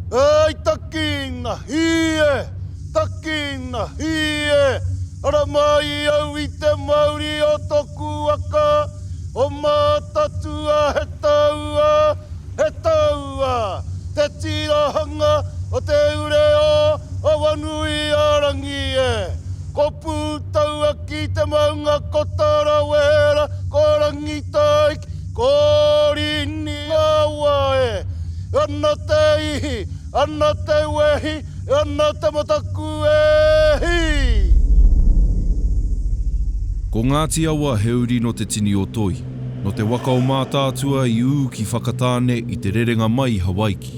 Ēi taki ngā hī e, taki ngā hī e, ara mai au i te mauri o tōku waka, o Mātaatua he taua, He taua te tīrahanga o te ureo o Wanuiarangi e. Ko Pūtauaki te maunga ko Tarawera ko Rangitaiki ko Rīningāua e. Ana te ihi, ana te wehi, ana te mataku e hī! Ko Ngāti Awa he uri nō te tini o Toi. Nō te waka o Mātaatua i ū ki Whakatāne i te rerenga mai i Hawaiki.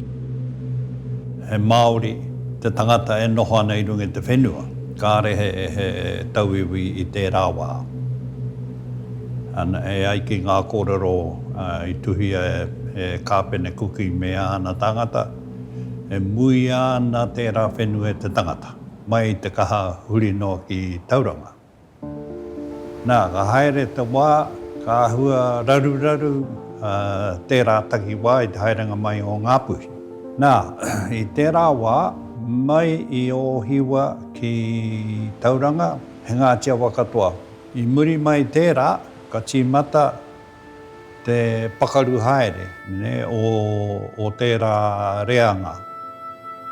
He Māori te tangata e noho ana i runga i te whenua, kāre he tauiwi i tērā wā. E ai ki ngā kōrero i tuhia e Kāpene Kuki me āna tāngata, e muia ana tērā whenua e te tangata, mai i te kaha huri noa ki Tauranga. Nā, ka haere te wā, ka āhua raruraru tērā takiwā i te haerenga mai o Ngāpuhi. Nā, i tērā wā, mai i Ōhiwa ki Tauranga, he Ngāti Awa katoa. I muri mai tērā, ka tīmata te pakaru haere o tērā reanga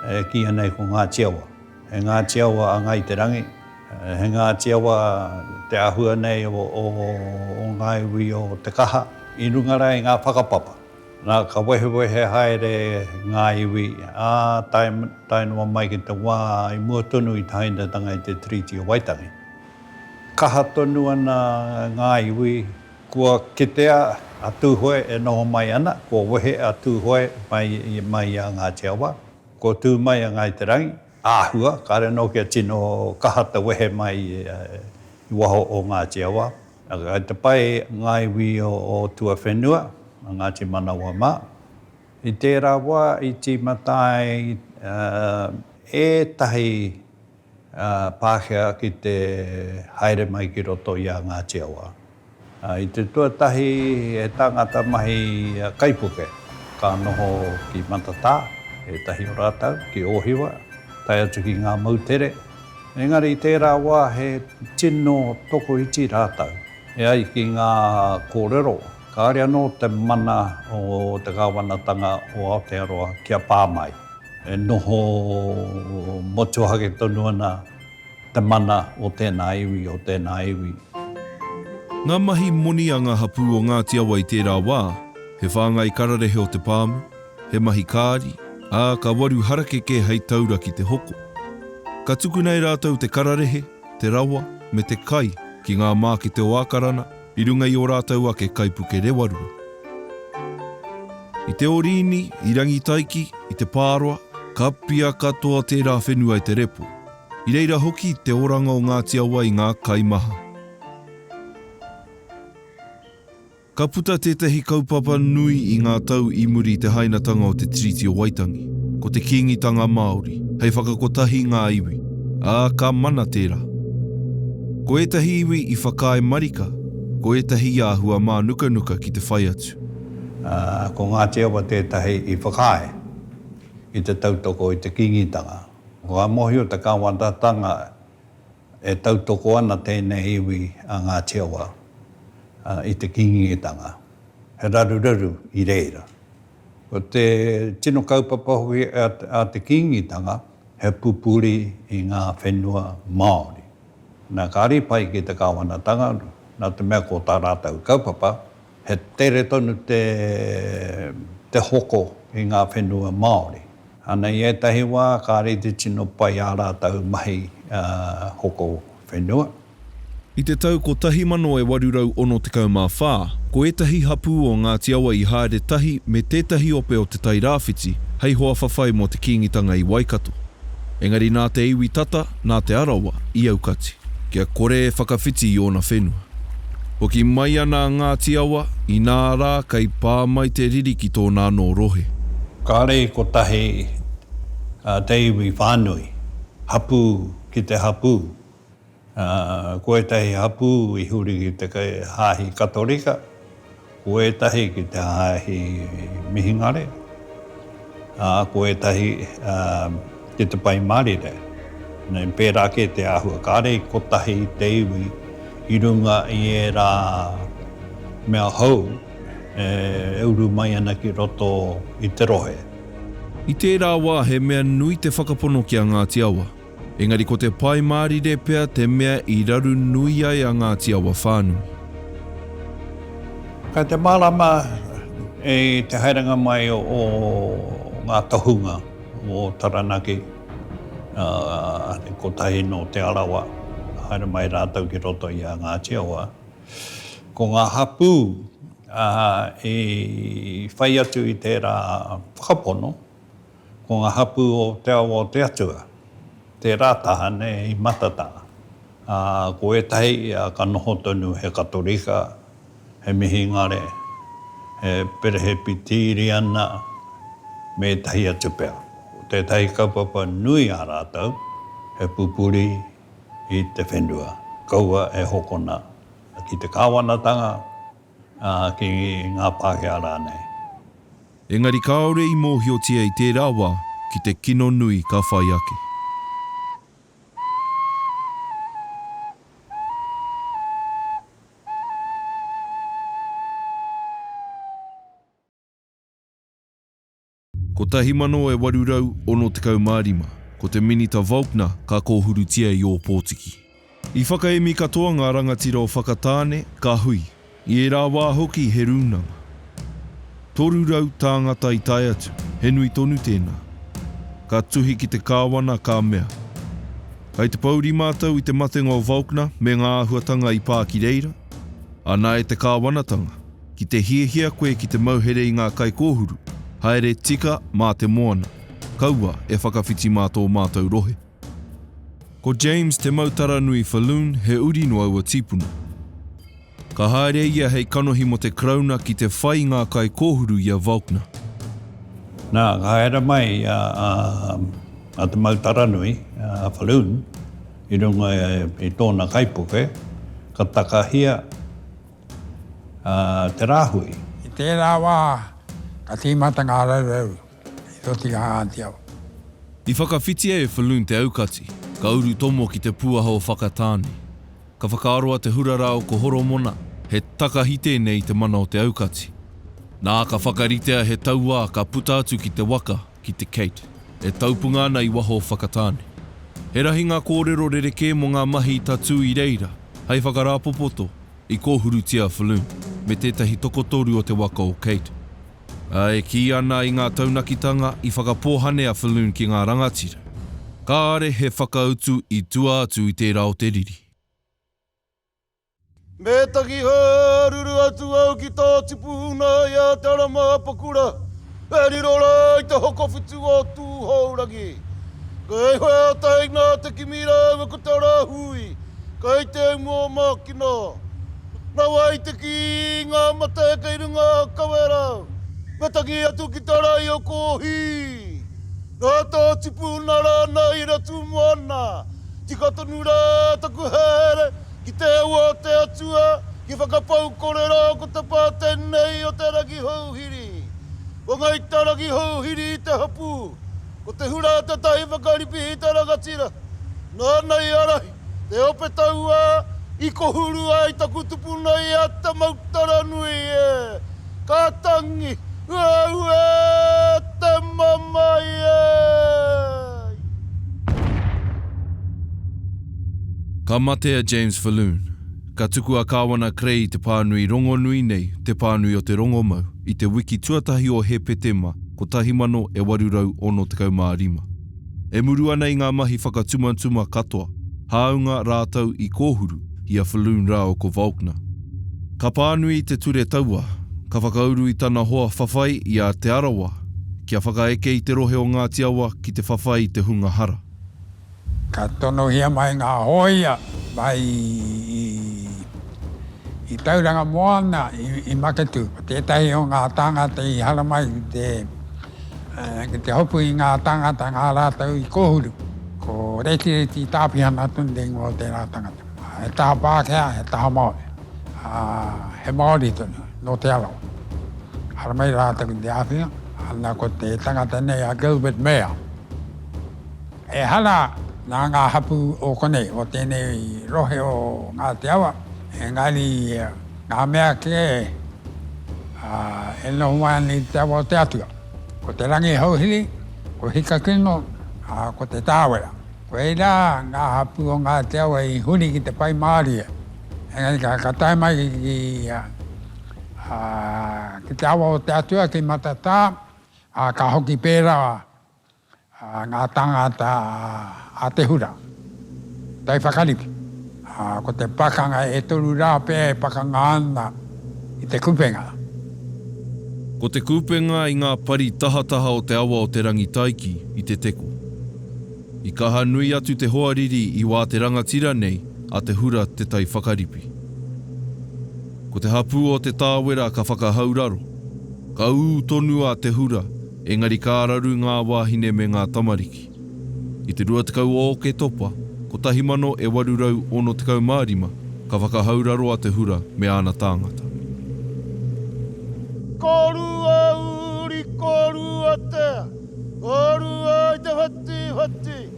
e kīia nei ko Ngāti Awa. He Ngāti Awa a Ngāi Te Rangi. He Ngāti Awa te āhua nei o ngā iwi o Te Kaha i runga rā i ngā whakapapa. Nā, ka wehewehe haere ngā iwi, ā, tae noa mai ki te wā i mua tonu i te hainatanga i te Tiriti o Waitangi. Kaha tonu ana ngā iwi, kua kitea a Tūhoe e noho mai ana, kua wehe a Tūhoe mai i a Ngāti Awa, kua tū mai a Ngāi Te Rangi, Āhua, kāre anō kia tino kaha te wehe mai i waho o Ngāti Awa. Kei te pai ngā iwi o tuawhenua, a Ngāti Manawa mā. I tērā wā i tīmata ai ētahi Pākehā ki te haere mai ki roto i a Ngāti Awa. I te tuatahi he tāngata mahi kaipuke ka noho ki Matatā, ētahi o rātou ki Ōhiwa, tae atu ki ngā moutere. Engari i tērā wā he tino tokoiti rātou. E ai ki ngā kōrero, kāore anō te mana o te kāwanatanga o Aotearoa kia pā mai, e noho motuhake tonu ana. Te mana o tēnā iwi, o tēnā iwi. Ngā mahi moni a ngā hapū o Ngāti Awa i tērā wā, he whāngai kararehe o te pāmu, he mahi kāri, ā, ka waru harakeke hei taura ki te hoko. Ka tukuna e rātou te kararehe, te rawa, me te kai ki ngā mākete o Ākarana, I runga i ō rātou ake kaipuke rewarua. I te Orīni, i Rangitaiki, i te Pāroa, ka pia katoa tērā whenua i te repo. I reira hoki te oranga o Ngāti Awa i ngā kai maha. Ka puta tētahi kaupapa nui i ngā tau i muri i te hainatanga o te Tiriti o Waitangi, ko te Kīngitanga Māori, hei whakakotahi ngā iwi, ā, ka mana tērā. Ko ētahi iwi i whakaae marika, ko ētahi i āhua mānukanuka ki te whai atu. Ko Ngāti Awa tētahi i whakaae i te tautoko i te Kīngitanga. Kua mōhio te kāwanatanga e tautoko ana tēnei iwi a Ngāti Awa i te Kīngitanga. He raruraru i reira. Ko te tino kaupapa hoki a te Kīngitanga, he pupuri i ngā whenua Māori. Nā, kāre pai ki te Kāwanatanga, nā te mea ko tā rātou kaupapa, he tere tonu te hoko i ngā whenua Māori. Ana i ētahi wā, kāre te tino pai ā rātou mahi hoko whenua. I te tau 1864, ko ētahi hapū o Ngāti Awa i haere tahi me tētahi ope o Te Tai Rāwhiti hei hoa whawhai mō te Kīngitanga i Waikato. Engari nā te iwi tata, nā Te Arawa i aukati. Kia kore e whakawhiti i ōna whenua. Hoki mai ana a Ngāti Awa, inā rā kei pā mai te riri ki tōna anō rohe. Kāre i kotahi te iwi whānui, hapū ki te hapū, Ko ētahi hapū i huri ki te hāhi Katorika, ko ētahi ki te hāhi Mihingare, ā, ko ētahi ki te Pai Mārire. Nei, pērā kē te āhua, kāre i kotahi te iwi i runga i ērā mea hou e uru mai ana ki roto i te rohe. I tērā wā he mea nui te whakapono ki a Ngāti Awa. Engari ko te Pai Mārire pea te mea i raru nui ai a Ngāti Awa whānui. Kei te mārama i te haerenga mai o ngā tohunga o Taranaki, kotahi nō Te Arawa, haere mai rātou ki roto i a Ngāti Awa. Ko ngā hapū i whai atu i tērā whakapono, ko ngā hapū o te awa o te Atua, tērā tāne i matata, ā, ko ētahi ia ka noho tonu he Katorika, he Mihingare, he Perehepitiriana, me ētahi atu pea. Ko tētahi kaupapa nui a rātou, he pupuri i te whenua, kaua e hokona ki te kāwanatanga, ā, ki ngā Pākehā rānei. Engari kāore i mōhiotia i tērā wā ki te kino nui ka whai ake. Kotahi mano e waru rau ono tekau mā rima, ko te Minita Volkner ka kōhurutia i Ōpōtiki. I whakaemi katoa ngā rangatira o Whakatāne, ka hui. I ērā wā hoki he rūnanga. Toru rau tāngata i tae atu, he nui tonu tēnā. Ka tuhi ki te kāwana, ka mea, Kai te pouri mātou i te matenga o Volkner me ngā āhuatanga i pā ki reira? Ana e te kāwanatanga, ki te hiahia koe ki te mauhere i ngā kaikōhuru, haere tika mā te moana, kaua e whakawhiti mā tō mātou rohe. Ko James Te Mautaranui Falloon he uri no aua tīpuna. Ka haere ia hei kanohi mo te Karauna ki te whai ngā kai kōhuru i a Valkner. Na, ka haere mai a Te Mautaranui Falloon i runga i tōna kaipuke, ka takahia te rāhui. I tērā wā, ka tīmata ngā raurau I toti a Ngātiawa. I whakawhitia e Falloon te aukati, ka urutomo ki te pūaha o Whakatāne. Ka whakaaro a Te Hurarao ko Horomona, he takahi tēnei i te mana o te aukati. Nā, ka whakaritea he tauā ka puta atu ki te waka, ki te Kate, e taupunga ana i waho o Whakatāne. He rahi ngā kōrero rerekē mō ngā mahi i tatū i reira, hei whakarāpopoto, i kōhurutia a Falloon, me tētahi tokotoru o te waka o Kate. E kī ana i ngā taunakitanga i whakapōhane a Falloon ki ngā rangatira, kāore he whakautu i tua atu i tērā o te riri. Me taki hāruru atu au ki tō tipu huna i a Te Ara Māpakura, e riro rā ai te hokowhitu o Tūhourangi. Kei whai ata i ngā te kimi rāua ko te rāhui, kei te umua mākina. Rawa i te kī ngā mate kei runga kawera, me tangi atu ki te rae o Kōhī. Nā tō tipu na rānei i ratu moana, tika tonu rā taku haere ki te ua o te Atua ki whakapau korero ko te pā tenei o te ragi houhiri. Ko Ngai ta ragi houhiri i te hapū, ko te hura tetahi whakaripihi te rangatira. Nāna i ārahi. Te ope taua i kohuru ai taku tupuna i a Tamautaranui e! Ka tangi, uau e! Te mamae ai! Ka mate a James Falloon. Ka tuku a Kāwana Krei i te pānui rongonui nei, Te Pānui o te Rongomau, i te wiki tuatahi o Hepetema 1865. E muru ana i ngā mahi whakatumatuma katoa, hāunga rātou i kōhuru i a Falloon rāua ko Volkner. Ka pānui te ture taua, ka whakauru i tana hoa whawhai i a Te Arawa kia whakaeke i te rohe o Ngāti Awa ki te whawhai i te hunga hara. Ka tonohia mai ngā hōia mai i Tauranga Moana i Maketū, ko tētahi o ngā tāngata i haramai ki te. Ki te hopu i ngā tāngata, ngā rātou i kōhuru, ko Retireti Tāpihana tonu te ingoa o tērā tangata. He taha Pākehā, he taha Māori, ā, he Māori tonu, nō Te Arawa. Haramai rātou ki te āwhina, ana ko te tangata nei a Gilbert Mair. Ehara nā ngā hapū o konei, o tēnei rohe o Ngāti Awa, engari, Ngā mea kē, ā, e noho mai ana i te awa o te Atua, ko te rangi hauhiri, ko Hikakino, ā, ko te tāwera. Ko reira ngā hapū o Ngāti Awa i huri ki te whai mārie, engari ka, ka tae mai ki, ā, ki te awa o te Atua ki Matatā, ā, ka hoki pērā. ngā tāngata a te hura, tai whakariki, ā, ko te pakanga e toru rā pea e pakanga ana i te kupenga. Ko te kupenga i ngā pari tahataha o te awa o Te Rangitaiki i te teko. I kaha nui atu te hoariri i wā te rangatira nei a te hura te tai whakaripi. Ko te hapū o Te Tāwera ka whakahauraro, ka ū tonu a te hura Engari ka araru ngā wāhine me ngā tamariki. I te 20 o Oketopa, 1865, ka whakahau raro a Te Hura me āna tāngata. Ko rua uri, ko rua tea. Ko rua i te whatiwhati.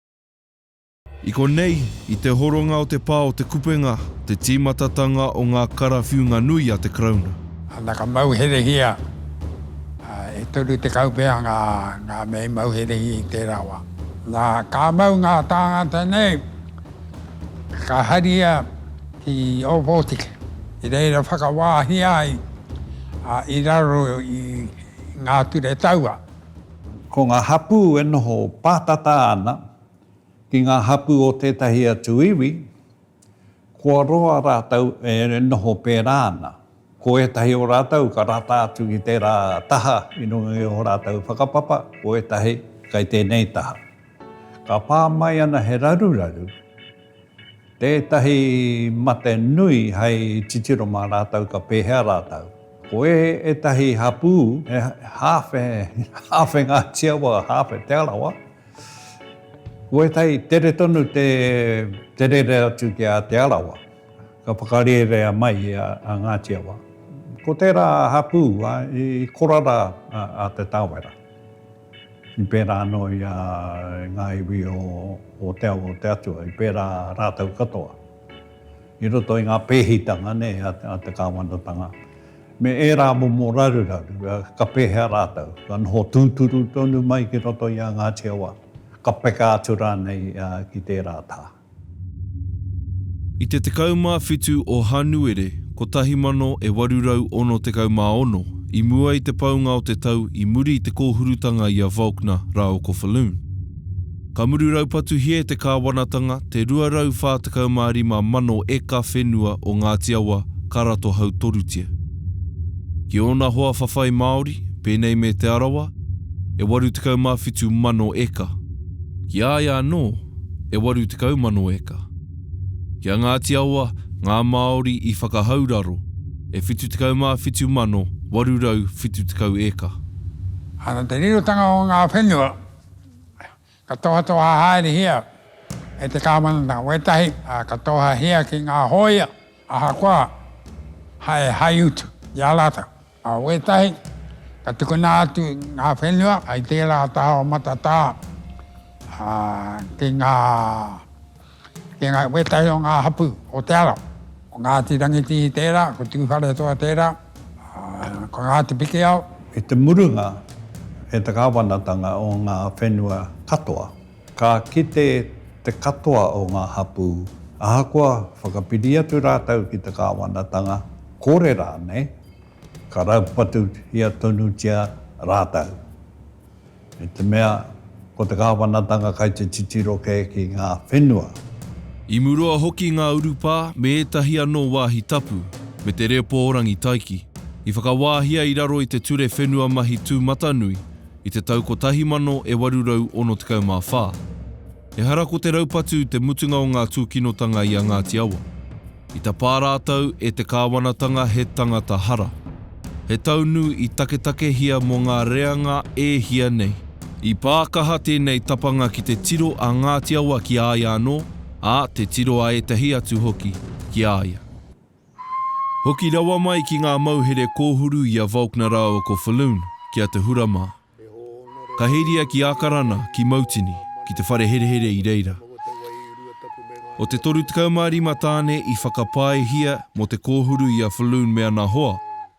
I konei, i te horonga o te pā o Te Kupenga, te tīmatatanga o ngā karawhiunga nui a te Karauna. Ana ka mauherehia, e toru tekau pea ngā mea i mauherehia i tērā wā. Nā, ka mau ngā tāngata nei, ka haria ki Ōpōtiki, i reira whakawāhia ai i raro i ngā ture taua. Ko ngā hapū e noho pātata ana ki ngā hapū o tētahi atu iwi, kua roa rātou e noho pērā ana. Ko ētahi o rātou ka rata atu ki tērā taha i runga i ō rātou whakapapa, ko ētahi kei tēnei taha. Ka pā mai ana he raruraru, tētahi mate nui hei titiro mā rātou ka pēhea rātou. Ko ētahi hapū he hāwhe, hāwhe Ngāti Awa, hāwhe Te Arawa. Ko ētahi tere tonu te, te rere atu ki a Te Arawa. Ka whakarērea mai i a, a Ngāti Awa. Ko tērā hapū a, i korara a, a Te Tāwera. I pērā anō i a ngā iwi o te ao o te Atua, i pērā rātou katoa. I roto i ngā pēhitanga nei a te kāwanatanga, me ērā momo raruraru, ka pēhea rātou? Ka noho tūturu tonu mai ki roto i a Ngāti Awa, ka peka atu rānei ki tērā taha? I te 17 o Hānuere 1866, i mua i te paunga o te tau i muri i te kōhurutanga i a Volkner rā o Kofaloon, ka muru raupatuhia e te kāwanatanga te 245 mano eka whenua o Ngāti Awa ka rato hautorutia ki ōna hoa whawhai māori, pēnei me Te Arawa, e 87 mano eka. Ki a ia anō, e 80,000 eka. Ki a Ngāti Awa, ngā Māori i whakahau raro, e 77,870 eka. Ana te rirotanga o ngā whenua ka tohatoha haerehia e te kāwanatanga, wētahi ka tohahia ki ngā hōia ahakoa hai utu i a rātou. Ka wētahi, ka tukuna atu ngā whenua i tērā taha o Matatā ki ngā, ki ngā, wētahi o ngā hapū o Te Arawa. Ko Ngāti Rangitihi tērā, ko Tūwharetoa tērā, ko Ngāti Pikiao. I te murunga, he te kāwanatanga o ngā whenua katoa. Ka kite te katoa o ngā hapū, ahakoa whakapiri atu rātou ki te kāwanatanga, kore rānei, ka raupatuhia tonutia rātou. I te mea, ko te kāwanatanga kai te titiro kē ki ngā whenua. I murua hoki ngā urupā me ētahi anō wāhi tapu, me te reo pōrangi taiki, i whakawāhia i raro i te ture whenua mahi tūmatanui, i te tau 1864. Ehara ko te raupatu te mutunga o ngā tūkinotanga i a Ngāti Awa. I tapā rātou e te kāwanatanga he tangata hara. He taunu i taketakehia mō ngā reanga e hia nei. I pā kaha tēnei tapanga ki te tiro a Ngāti Awa ki a ia anō, ā, te tiro a ētahi atu hoki ki a ia. Hoki rawa mai ki ngā mauhere kōhuru i a Volkner rāua ko Falloon, ki a Te Hura mā. Ka heria ki Ākarana, ki Mautini, ki te whare herehere i reira. O te 35 tāne i whakapaehia mō te kōhuru i a Falloon me ana hoa,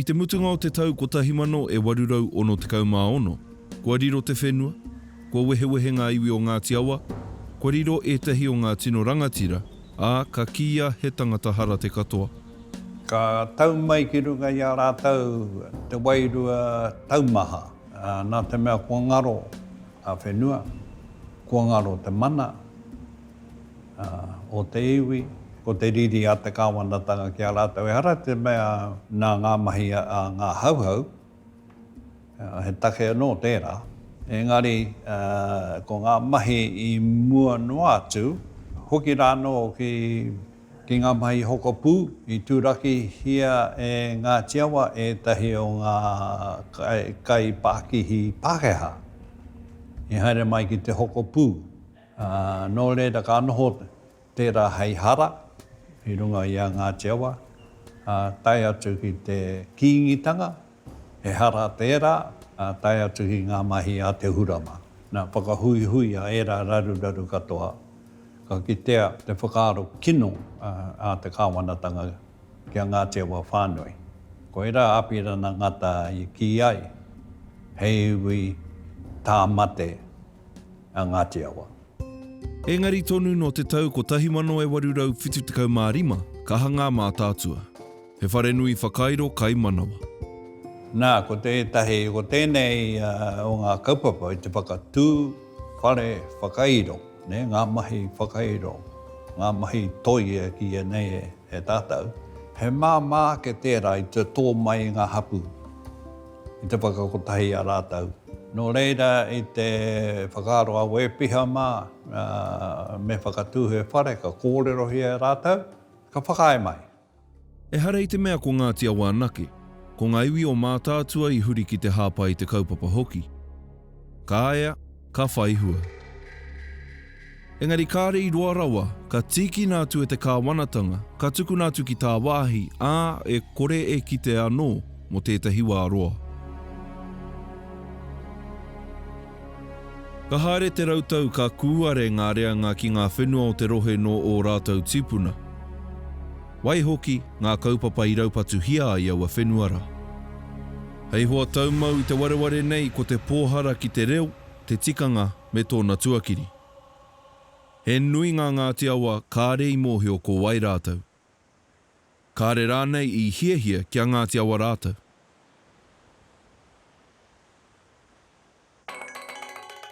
I te mutunga o te tau 1866, kua riro te whenua, kua wehewehe ngā iwi o Ngāti Awa, kua riro ētahi o ngā tino rangatira, ā, ka kīia he tangata hara te katoa. Ka tau mai ki runga i a rātou te wairua taumaha, nā te mea kua ngaro a whenua, kua ngaro te mana o te iwi, ko te riri a te kāwanatanga ki a rātou. Ehara te mea nā ngā mahi a ngā Hauhau, He take anō tērā, engari ko ngā mahi i mua noa atu, hoki rā anō ki ngā mahi i hokopū, i turakihia e Ngāti Awa ētahi o ngā kaipākihi Pākehā i haere mai ki te hokopū. Nō reira ka noho Tērā hei hara i runga i a Ngāti Awa, ā, tae atu ki te Kīngitanga, he hara tērā, ā, tae atu ki ngā mahi a Te Hurama. Nā, whakahuihuia ērā raruraru katoa, ka kitea te whakaaro kino a te kāwanatanga ki a Ngāti Awa whānui. Koirā a Apirana Ngata i kī ai, hei iwi tāmate a Ngāti Awa. Engari tonu nō te tau 1875 ka hanga a Mātaatua. He wharenui whakairo kai manawa. Nā, ko tētahi, ko tēnei o ngā kaupapa i te whakatū whare whakairo, nē, ngā mahi whakairo, ngā mahi toi e kīia nei e tātou, he māmā ake tērā i te tō mai i ngā hapū. I te whakakotahi i a rātou. Nō reira, i te whakaaro a Wēpiha mā, me whakatū he whare, ka kōrerohia e rātou, ka whakaae mai. Ehara i te mea ko Ngāti Awa anake, ko ngā iwi o Mātaatua i huri ki te hāpai i te kaupapa hoki. Ka ea. ka whai hua. Engari kāre i roa rawa, ka tīkina atu e te kāwanatanga, ka tukuna atu ki tāwāhi, ā, e kore e kite anō mō tētahi wā roa. Ka haere te rautau ka kūare ngā reanga ki ngā whenua o te rohe nō ō rātou tīpuna. Waihoki, ngā kaupapa i raupatuhia ai aua whenua rā. Hei hoa taumau i te wareware nei ko te pōhara ki te reo, te tikanga me tōna tuakiri. He nui ngā Ngāti Awa kāre i mōhio ko wai rātou. Kāre rānei i hiahia kia Ngāti Awa rātou.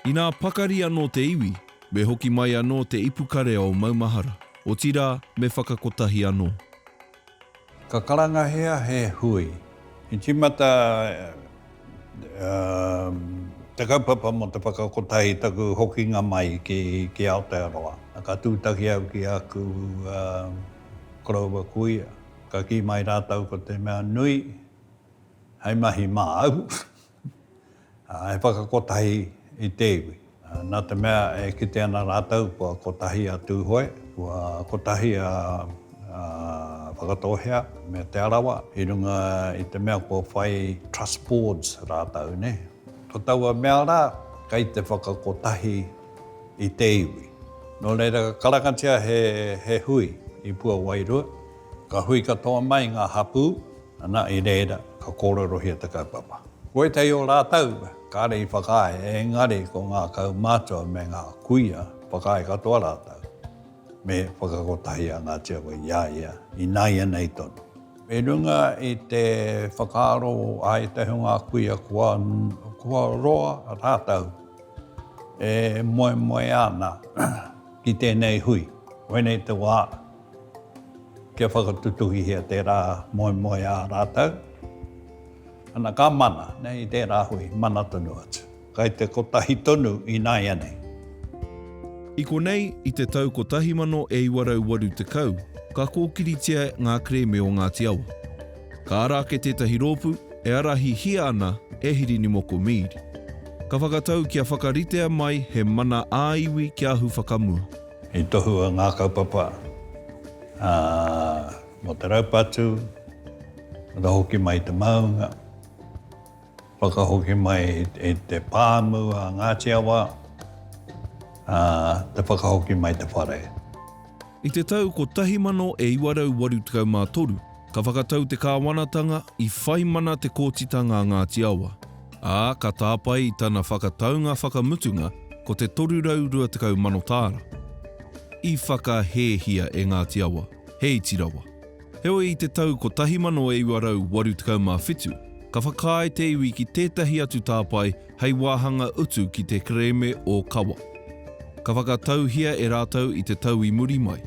Inā pakari anō te iwi, me hoki mai anō te ipukarea o maumahara, otirā, me whakakotahi anō. Ka karangahia he hui. I tīmata te kaupapa mō te whakakotahi i taku hokinga mai ki Aotearoa. Ka tūtaki au ki āku koroua kuia, ka kī mai rātou ko te mea nui hei mahi māu. He whakakotahi i te iwi. Nā te mea e kite ana rātou kua kotahi a Tūhoe, kua kotahi a Whakatōhea me Te Arawa i runga i te mea kua whai Trust Boards rātou, nē. Ko taua mea rā, kei te whakakotahi i te iwi. Nō reira, ka karangatia he hui i Puawairua, ka hui katoa mai ngā hapū, Ana i reira, ka kōrerohia te kaupapa. Ko ētahi o rātou kāre i whakaae, engari ko ngā kaumātua me ngā kuia, whakaae katoa rātou, me whakakotahi a Ngāti Awa i a ia, ināianei tonu. I runga i te whakaaro a ētahi o ngā kuia kua roa rātou e moemoea ana ki tēnei hui, koinei te wā, Kia whakatutuhihia tērā moemoeā a rātou. Ana ka mana nei i tērā hui, mana tonu atu. Kai te kotahi tonu ināianei. I konei, i te tau 1980, ka kōkiritia ngā kerēme o Ngāti Awa. Ka ara ake tētahi rōpū e arahihia ana e Hirinimoko Mead. Ka whakatau kia whakaritea mai he mana ā-iwi kia ahu whakamua. I tohua ngā kaupapa mō te raupatu, ka hoki mai i te māunga, whakahoki mai i te pāmu a Ngāti Awa, te whakahoki mai i te whare. I te tau 1983, Ka whakatau te kāwanatanga i whai mana te kōtitanga a Ngāti Awa, ā, ka tāpae i tana whakataunga whakamutunga ko te 320 mano tāra. I whakahēhia e Ngāti Awa, he iti rawa. Heoi i te tau 1987, ka whakaae te iwi ki tētahi atu tāpae hei wāhanga utu ki te kerēme o Kawa. Ka whakatauhia e rātou i te tau i muri mai.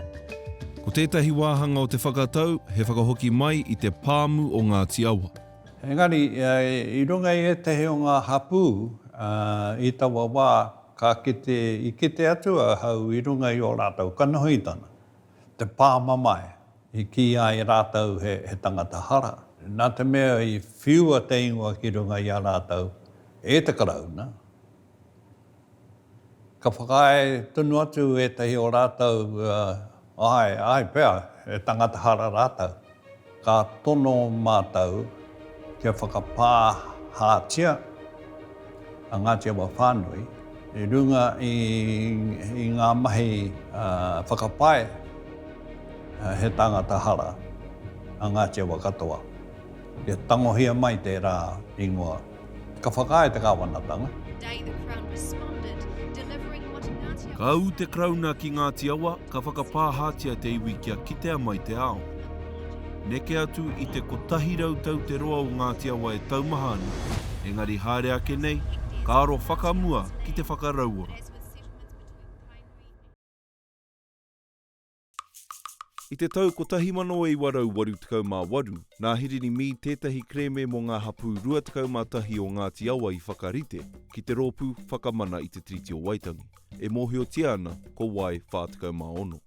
Ko tētahi wāhanga o te whakatau he whakahoki mai i te pāmu o Ngāti Awa. Engari, i runga i ētahi o ngā hapū i taua wā, ka kite, i kite atu ahau i runga i ō rātou kanohitanga, te pāmamae. I kīia e rātou he tangata hara. Nā te mea i whiua te ingoa ki runga i a rātou e te Karauna, ka whakaae tonu atu ētahi o rātou, āe, āe pea, he tangata hara rātou. Ka tono mātou kia whakapāhātia. a Ngāti Awa whānui i runga i, i ngā mahi uh, whakapae uh, he tāngata hara a Ngāti Awa katoa. Kia tangohia mai tērā ingoa. Ka whakaae te kāwanatanga. Ka ū te Karauna ki Ngāti Awa, Ka whakapāhātia te iwi kia kitea mai te ao. Neke atu i te 100 tau te roa o Ngāti Awa e taumaha ana, engari haere ake nei, ka aro whakamua ki te whakarauora. I te tau 1988, nā Hirini Mead tētahi kerēme mō ngā hapū 21 o Ngāti Awa i whakarite ki te rōpū Whakamana i te Tiriti o Waitangi. e mōhiotia ana ko wai 46.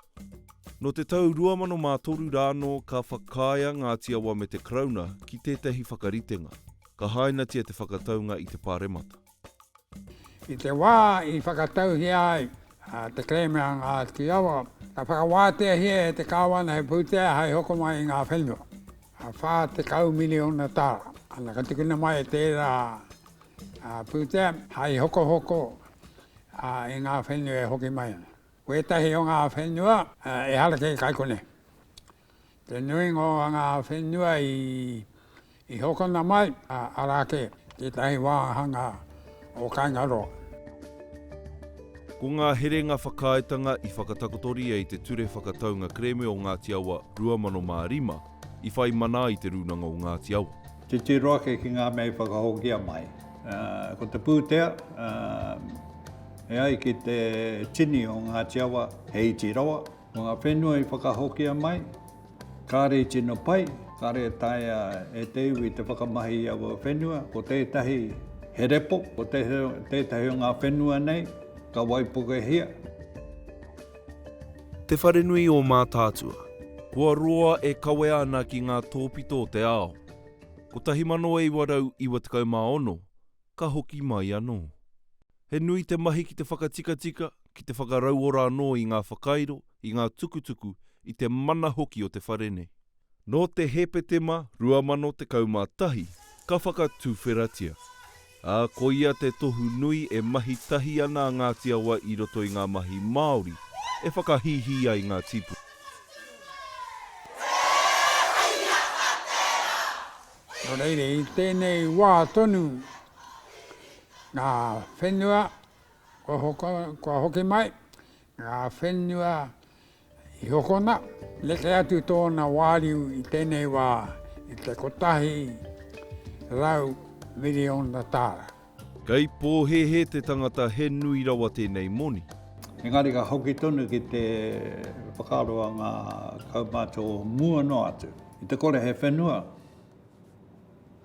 Nō te tau 2003 rā anō ka whakaaea ngā Tiawa me te Karauna ki tētahi whakaritenga, ka hainatia te whakataunga i te Pāremata. I te wā i whakatauhia ai te kerēme a ngā Tiawa, ka whakawāteahia e te Kāwana he pūtea hai hoko mai i ngā whenua, 40 miriona tāra. Ana, ka tukuna mai tērā pūtea hai hokohoko ā, i ngā whenua e hoki mai ana. Ko ētahi o ngā whenua, ā, ehara kē kai konei. Te nuinga o ngā whenua i, i hokona mai, ā, arā kē, tētahi wāhanga o Kaingaroa. Ko ngā herenga whakaaetanga i whakatakotoria i te Ture Whakataunga Kerēme o Ngāti Awa 2005, i whai mana ai Te Rūnanga o Ngāti Awa. Titiro ake ki ngā mea i whakahokia mai. Ko te pūtea, e ai ki te tini o Ngāti Awa, he iti rawa. Ko ngā whenua i whakahokia mai, kāre i tino pai, kāre e taea e te iwi te whakamahi i aua whenua. Ko tētahi he repo, ko tētahi o ngā whenua nei ka waipukehia. Te Wharenui o Mātaatua. Kua roa e kawea ana ki ngā tōpito o te ao. 1996, ka hoki mai anō. He nui te mahi ki te whakatikatika, ki te whakarauora anō i ngā whakairo, i ngā tukutuku, i te mana hoki o te whare nei. Nō te Hepetema 2011 ka whakatuwheratia, ā, ko ia te tohu nui e mahi tahi ana a Ngāti Awa i roto i ngā mahi Māori e whakahīhī ai ngā tīpuna. Nō reira, i tēnei wā tonu ngā whenua kua hoki mai, ngā whenua I hokona, neke atu tōna wāriu i tēnei wā i te kotahi rau miriona tāra. Kei pōhēhē te tangata he nui rawa tēnei moni. Engari ka hoki tonu ki te whakaaro a ngā kaumātua o mua noa atu, i te kore he whenua.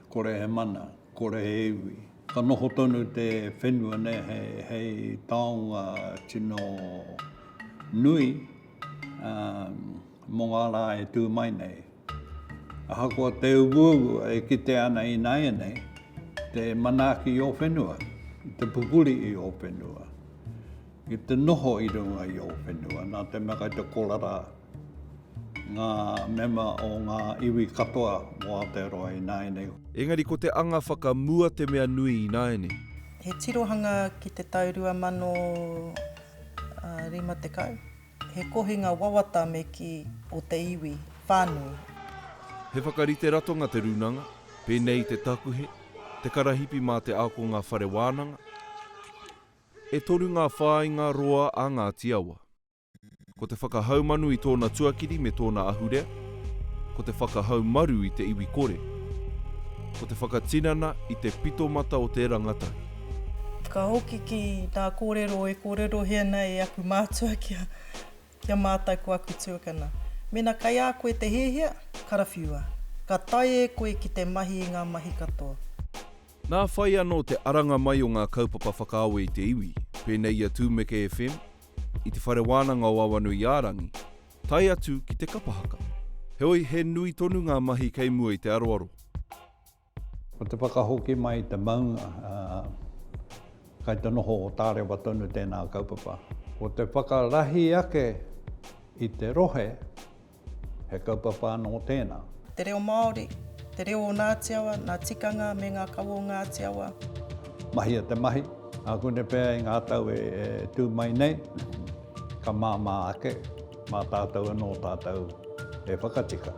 Kore he mana, kore he iwi. Ka noho tonu te whenua nei hei taonga tino nui mo nga ra e tu mai nei. Ahakoa te uaua e kitea ana inaianei te manaaki i o whenua, i te pupuri i o whenua, i te noho i runga i o whenua, na te mea kai te kora ra. Ngā mema o ngā iwi katoa o Aotearoa ināianei. Engari ko te anga whakamua te mea nui ināianei. He tirohanga ki te tau 2050, he kohinga wawata me kī o te iwi whānui. He whakarite ratonga te rūnanga, pēnei i te takuhe, te karahipi mā te ākongā whare wānanga. E toru ngā whāinga roa a Ngāti Awa. Ko te whakahaumanu i tōna tuakiri me tōna ahurea, ko te whakahaumaru i te iwi kore, ko te whakatinana i te pitomata o te rangatahi. Ka hoki ki ngā kōrero e kōrerohia ana e aku mātua kia kia mātau ko aku tuakana. Mēnā kai a koe te hiahia, karawhiua. Ka tae e koe ki te mahi i ngā mahi katoa. Nā whai anō te aranga mai o ngā kaupapa whakaawe i te iwi, pēnei i a Tūmeke FM, i te Whare Wānanga o Awanuiārangi, tae atu ki te kapa haka. Heoi, he nui tonu ngā mahi kei mua i te aroaro. Ko te whakahoki mai i te maunga, kei te noho tārewa tonu tēnā kaupapa. Ko te whakarahi ake i te rohe, He kaupapa anō tēnā. Te reo Māori, te reo o Ngāti Awa, ngā tikanga me ngā kawa o Ngāti Awa. Mahia te mahi, ākune pea i ngā tau e tū mai nei, ka māmā ake mā tātou anō tātou e whakatika.